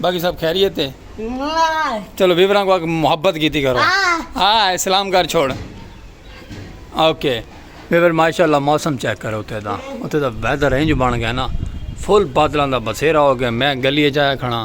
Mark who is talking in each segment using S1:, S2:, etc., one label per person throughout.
S1: باقی سب خیریت ہے چلو ویوراں کو محبت کیتی کرو ہاں اسلام گھر چھوڑ اوکے ویور ماشاءاللہ موسم چیک کرو اتے دا اتے دا ویدر رینج بن گیا نا فل بادلاں دا بسیرا ہو گیا میں گلی جایا کھڑا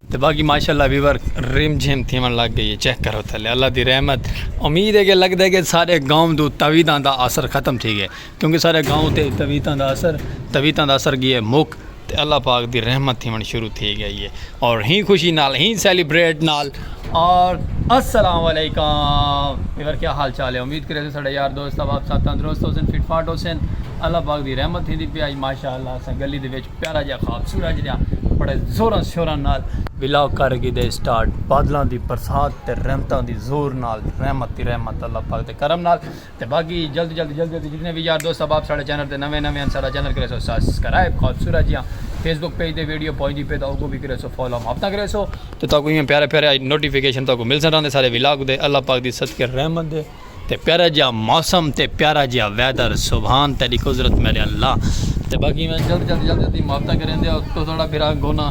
S1: تے باقی ماشاءاللہ ویور رم جھم تھیون لگ گئی ہے چیک کرو تھلے اللہ دی رحمت امید ہے کہ لگدا ہے کہ سارے گاؤں دو تویتاں دا اثر ختم تھی گئے کیونکہ سارے گاؤں تے تویتاں دا اثر تویتاں دا اثر گیا مک تے اللہ پاک دی رحمت تھیون شروع تھی گئی ہے اور ہی خوشی نال ہی سیلیبریٹ نال اور السلام علیکم ویور کیا حال چال ہے امید کرے ساڈا یار دوست اب آپ ساتھ تندرست ہو سن فٹ فاٹ ہو سن اللہ پاک دی رحمت تھی دی پی آج ماشاءاللہ اسا گلی دے وچ پیارا جیا خواب سورج نیا بڑے زوراں شوراں نال ولاگ کر گی دے سٹارٹ بادلاں دی برسات تے رحمتاں دی زور نال رحمت دی رحمت اللہ پاک دے کرم نال تے باقی جلد جلد جلد جلد جتنے بھی یار دوست احباب ساڑے چینل تے نویں نویں ان ساڑا چینل کرے سو سبسکرائب خواب سورج جیا فیس بک پیج تے ویڈیو پہنچ دی پے تا اوکو بھی کرے سو فالو ہم ہفتہ کرے سو تے تاکو یہ پیارے پیارے نوٹیفیکیشن تاکو مل سن رہا دے سارے ولاگ دے اللہ پاک دی صدقے رحمت دے تے پیارا جیا موسم تے پیارا جیا ویدر سبحان تیری قدرت میرے اللہ تے باقی میں جلد جلد جلد جلد ماتا کریں دے تو تھوڑا پھر گونا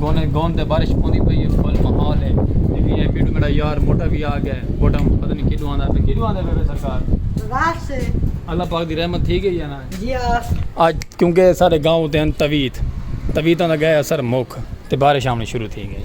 S1: گونے گون تے بارش پوندی پئی ہے فل محال ہے لیکن یہ ویڈیو میرا یار موٹا بھی آ گیا ہے موٹا پتہ نہیں کیڈو آندا ہے کیڈو آندا ہے بے سرکار راس سے اللہ پاک دی رحمت تھی گئی ہے نا جی آج کیونکہ سارے گاؤں تے ہیں تویت تویتاں دا گئے اثر مک تے بارش آمنی شروع تھی گئی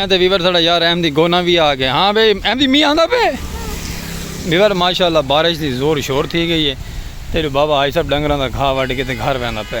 S1: ہیں تے ویور ساڑا یار احمدی گونا بھی آ گئے ہاں بھائی احمدی می آندا پہ ویور ماشاءاللہ بارش دی زور شور تھی گئی ہے تیرے بابا آئی سب ڈنگراں دا گھا وڈ کے تے گھر ویندا پہ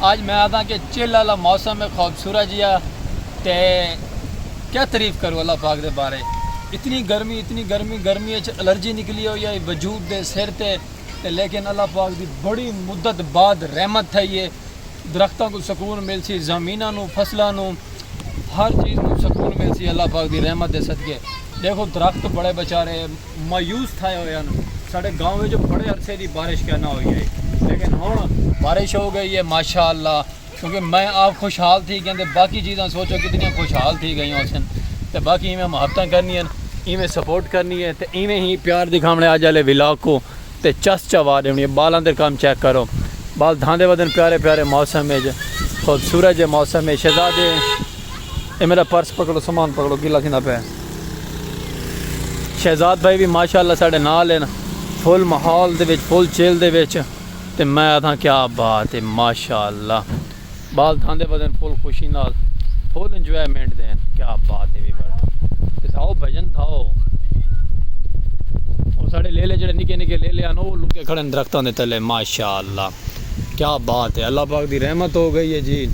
S1: آج میں آدھاں کہ چل آلا موسم ہے خوبصورت جیا تے کیا تعریف کرو اللہ پاک دے بارے اتنی گرمی اتنی گرمی گرمی اچ الرجی نکلی ہوئی ہے وجود دے سر تے تے لیکن اللہ پاک دی بڑی مدت بعد رحمت تھئی ہے درختاں کو سکون مل سی زمیناں نو فصلاں نو ہر چیز نو سکون مل سی اللہ پاک دی رحمت دے صدقے دیکھو درخت بڑے بچارے مایوس تھائے ہوئے ہن ساڈے گاؤں وچ بڑے عرصے دی بارش کیا نہ ہوئی ہئی لیکن ہن بارش ہو گئی ہے ماشاء اللہ کیونکہ میں آپ خوشحال تھی گئے تے باقی چیزاں سوچو کتنی خوشحال تھی گئی ہوسن تے باقی ایویں محبتاں کرنی ہیں ایویں سپورٹ کرنی ہے تے ایویں ہی پیار دکھاونے اج والے ولاگ کو تے چس چوا دینی ہے بالاں دے کم چیک کرو بال دھاندے ودن پیارے پیارے موسم وچ خوبصورت جے موسم ہے شہزادے اے میڈا پرس پکڑو سامان پکڑو گلا تھیندا پے شہزاد بھائی بھی ماشاءاللہ ساڈے نال ہیں فل ماحول دے وچ فل چیل دے وچ تے میں آتھاں کیا بات ہے ماشاءاللہ بال تھاندے بدن فل خوشی نال فل انجوائمنٹ دین کیا بات ہے ویور تھاؤ بھجن تھاؤ اور ساڈے لیلے جڑے نکے نکے لیلے ہیں وہ لکے کھڑے درختوں دے تلے ماشاءاللہ کیا بات ہے اللہ پاک دی رحمت ہو گئی ہے جی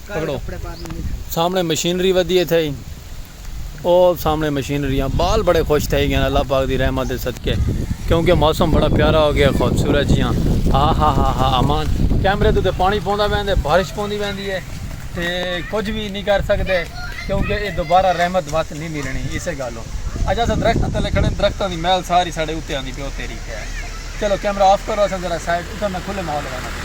S1: پکڑو سامنے مشینری ودی تھے او سامنے مشینریاں بال بڑے خوش تھے گئے اللہ پاک دی رحمت صدقے کیونکہ موسم بڑا پیارا ہو گیا خوبصورت جیاں ہا ہا ہا ہا امان کیمرے تو تے پانی پوندا ویندے بارش پوندی ویندی ہے تے کچھ بھی نہیں کر سکدے کیونکہ اے دوبارہ رحمت وقت نہیں ملنی اسے گالوں اجا سا درخت تلے کھڑے درخت دی محل ساری ساڑے اتے آندی پہ اتے ریکھے چلو کیمرہ آف کرو سا ذرا سائڈ اتھا میں کھلے ماحول رہنا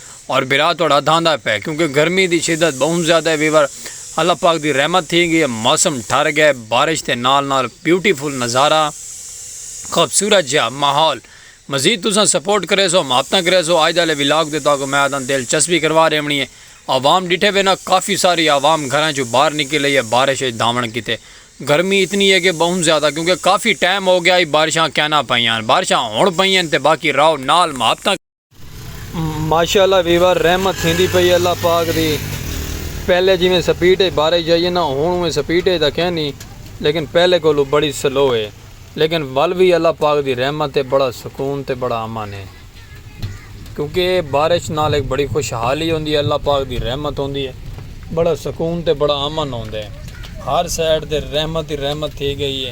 S1: اور برا تہاڈا دھاندا پئے کیونکہ گرمی دی شدت بہوں زیادہ ہے ویور اللہ پاک دی رحمت تھی گئی ہے موسم ٹھر گئے بارش دے نال نال بیوٹی فل نظارہ خوبصورت جیا ماحول مزید تساں سپورٹ کریسو محبتاں کریسو اج دالے ولاگ تے تہاکوں میں آدھاں دل چسپی کروا ریونی ہے عوام ڈٹھے وے نا کافی ساری عوام گھراں چوں باہر نکل ای ہے بارش اچ دھاون کیتے گرمی اتنی ہے کہ بہوں زیادہ کیونکہ کافی ٹائم ہو گیا ہی بارشاں کینا پئیاں بارشاں ہن پئیاں تے باقی راہو نال محبتاں ماشاءاللہ ویور رحمت تھیندی پئی اللہ پاک دی پہلے جیویں سپیڈ اچ بارش جائیے نا ہن اوویں سپیڈ اچ تاں کینی لیکن پہلے کولوں بڑی سلو ہے لیکن ول وی اللہ پاک دی رحمت ہے بڑا سکون تے بڑا امن ہے کیونکہ بارش نال ہک بڑی خوشحالی ہوندی ہے اللہ پاک دی رحمت ہوندی ہے۔ بڑا سکون تے بڑا امن ہوندے ہر سائیڈ تے رحمت ہی رحمت تھی گئی ہے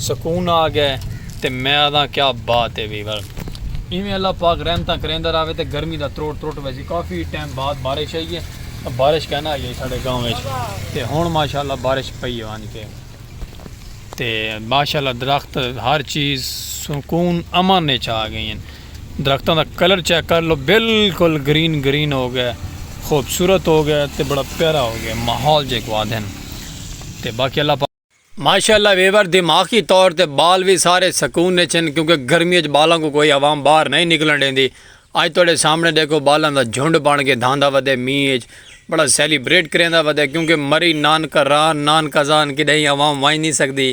S1: سکون آ گئے تے میں آدھاں کیا بات ہے وی ول ایویں اللہ پاک رحمتاں کریندا راوے تے گرمی دا تروٹ تروٹ ویسی کافی ٹائم بعد بارش آئی ہے بارش کہنا آئی ہے ساڈے گاؤں وچ تے ہن ماشاءاللہ بارش پئی ہے ونج کے تے ماشاءاللہ درخت ہر چیز سکون امن وچ آ گئی ہیں۔ درختاں دا کلر چیک کر لو بالکل گرین گرین ہو گئے خوبصورت ہو گئے تے بڑا پیارا ہو گئے ماحول جے کو آدھن تے باقی اللہ پاک ماشاءاللہ ویور دماغی طور تے بال وی سارے سکون وچ ہن کیونکہ گرمی وچ بالاں کوں کوئی عوام باہر نئیں نکلن ڈیندی اج تہاڈے سامنے ڈیکھو بالاں دا جھنڈ بن کے دھاندا ودے مینھ وچ بڑا سیلیبریٹ کریندا ودے کیونکہ مری نانکہ راہ نانکہ زان کڈہیں عوام ونج نئیں سکدی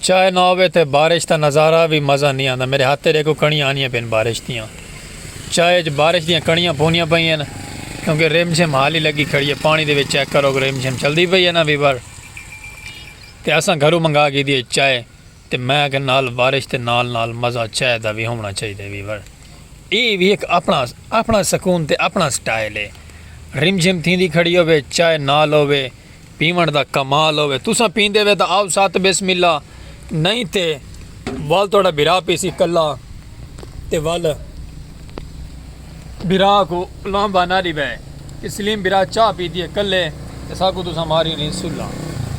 S1: چائے نہ ہووے تیں بارش دا نظارہ وی مزہ نی آندا میرے ہتھ تے ڈیکھو کڑیاں آنیاں پئین بارش دیاں چائے اچ بارش دیاں کڑیاں پوندیاں پئی ہن کیونکہ رم جھم حالی لگی کھڑی ہے پانی دے وچ چیک کرو رم جھم چلدی پئی ہے نا ویور تے اساں گھروں منگا گھیدی ہے چائے تے میں آکھیا نال بارش تے نال نال مزہ چائے دا وی ہوونا چاہیدے ویور اے وی ہک اپنا اپنا سکون تے اپنا سٹائل ہے رم جھم تھیندی کھڑی ہووے چائے نال ہووے پیوݨ دا کمال ہووے تساں پیندے وے تاں آو سات بسم اللہ نئیں تے ول تہاڈا بھرا پیسی کلا تے ول بھرا کو لانبا نہ ڈیوے کہ سلیم بھرا چاہ پیدیے کلے تے ساکو تساں ماری نہیں سلا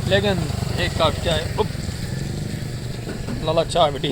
S1: لیکن ایک کپ چائے لالا چاہ بٹی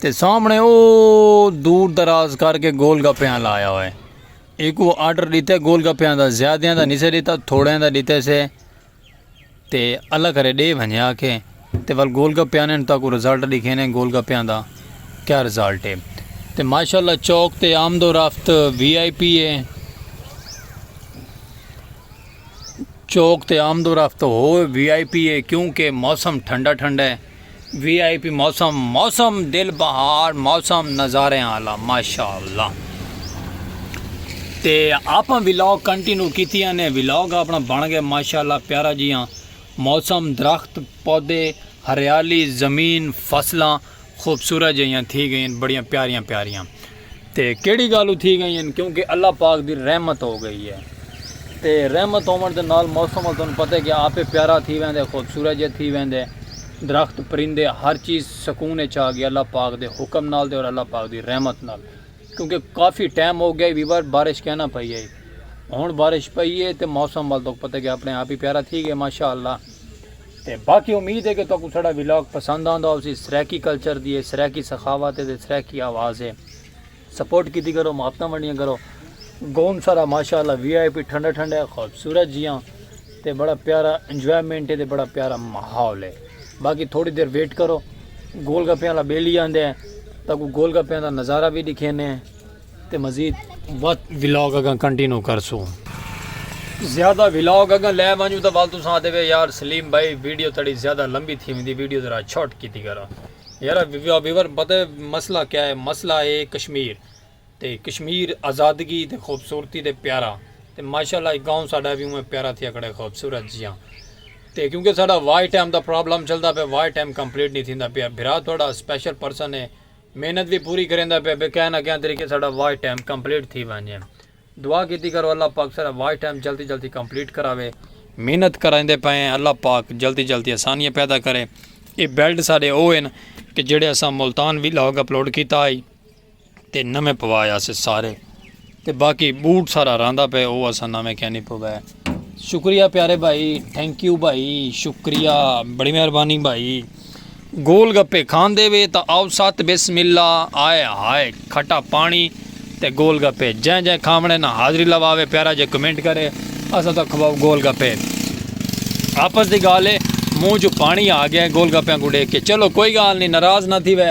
S1: تے سامنڑے او دور دراز کر کے گول گپیاں لا آیا ہوئے ایکو آرڈر ڈیتے گول گپیاں دا زیادیاں دا نیسے ڈیتا تھوڑیاں دا ڈیتے سے تے اللہ کرے ڈے بھنجے آکھے تے ول گول گپیاں نے تاکو رزلٹ ڈکھے نے گول گپیاں دا کیا رزلٹ ہے تے ماشاءاللہ چوک تے آمد و رفت وی آئی پی ہے چوک تے آمد و رفت ہو وی آئی پی ہے کیونکہ موسم ٹھنڈا ٹھنڈا ہے وی آئی پی موسم موسم دل بہار موسم نظارے آلا ماشاءاللہ تے آپاں ویلاگ کنٹینو کیتی نے ویلاگ اپنا بن گئے ماشاءاللہ پیارا جی ہاں موسم درخت پودے ہریالی زمین فصلاں خوبصورت جہیاں تھی گئیں بڑیاں پیاریاں پیاریاں تے کیڑھی گالوں تھی گئیں ہن کیونکہ اللہ پاک دی رحمت ہو گئی ہے تے رحمت ہوون دے نال موسم ول تانوں پتہ ہے کہ آپے پیارا تھی ویندے خوبصورت جے تھی ویندے درخت پرندے ہر چیز سکون اچ آ گئی اللہ پاک دے حکم نال تے اور اللہ پاک دی رحمت نال کیونکہ کافی ٹائم ہو گیا وی بار بارش کینا پئی ہئی ہن بارش پئی ہے تے موسم ول تانوں پتہ کہ اپنے آپ ہی پیارا تھی گئے ماشاءاللہ تے باقی امید ہے کہ تہاکوں ساڈا ولاگ پسند آندا ہوسی سرائیکی کلچر دی ہے سرائیکی سخاوت ہے تے سرائیکی آواز ہے سپورٹ کیتی کرو محبتاں ونڈیاں کرو گون سارا ماشاءاللہ وی آئی پی ٹھنڈا ٹھنڈا ہے خوبصورت جیاں تے بڑا پیارا انجوائمنٹ ہے تے بڑا پیارا ماحول ہے باقی تھوڑی دیر ویٹ کرو گول گپیاں والا بیلی آندے ہیں تہاکوں گول گپیاں دا نظارہ وی دکھینے ہیں تے مزید وت ولاگ اگاں کنٹینو کرسوں۔ زیادہ ولاگ اگاں لے ونجوں تاں ول تساں آتے وے یار سلیم بھائی ویڈیو تہاڈی زیادہ لمبی تھی ویندی ویڈیو ذرا چھوٹ کیتی کرو یارا ویور پتہ مسئلہ کیا ہے مسئلہ ہے کشمیر تے کشمیر آزادگی تے خوبصورتی تے پیارا تے ماشاءاللہ اے گاؤں ساڈا وی اونویں پیارا تھیا کھڑا ہے خوبصورت جیاں تے کیونکہ ساڈا واچ ٹائم دا پرابلم چلدا پیا واچ ٹائم کمپلیٹ نی تھیندا پیا بھرا تہاڈا سپیشل پرسن ہے محنت وی پوری کریندا پئے بے کہیں نہ کہیں طریقے ساڈا واچ ٹائم کمپلیٹ تھی ونجے دعا کیتی کرو اللہ پاک ساڈا واچ ٹائم جلدی جلدی کمپلیٹ کراوے۔ محنت کریندے پئے ہیں اللہ پاک جلدی جلدی آسانیاں پیدا کرے اے بیلٹ ساڈے او ہن کہ جیڑھے اساں ملتان ویلاگ اپلوڈ کیتا ہئی تے نویں پوایا سے سارے۔ تے باقی بوٹ سارا راندا پئے او اساں نویں کینی پوے۔ شکریہ پیارے بھائی تھینک یو بھائی شکریہ بڑی مہربانی بھائی گول گپے کھاندے وے تا آؤ ست بسم اللہ آئے ہائے کھٹا پانی تے گول گپے جیں جیں کھاونے نا حاضری لواوے پیارا جے کمنٹ کرے اساں تاں کھواؤ گول گپے آپس دی گال ہے منہ جو پانی آ گیا گول گپیاں کو ڈیکھ کے چلو کوئی گال نہیں ناراض نہ تھی وے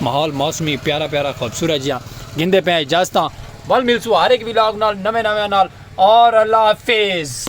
S1: ماحول موسمی پیارا پیارا خوبصورت جیاں گھندے پئے اجازتاں ول ملسوں ہر ہک ولاگ نال نویں نویاں نال اور اللہ حافظ۔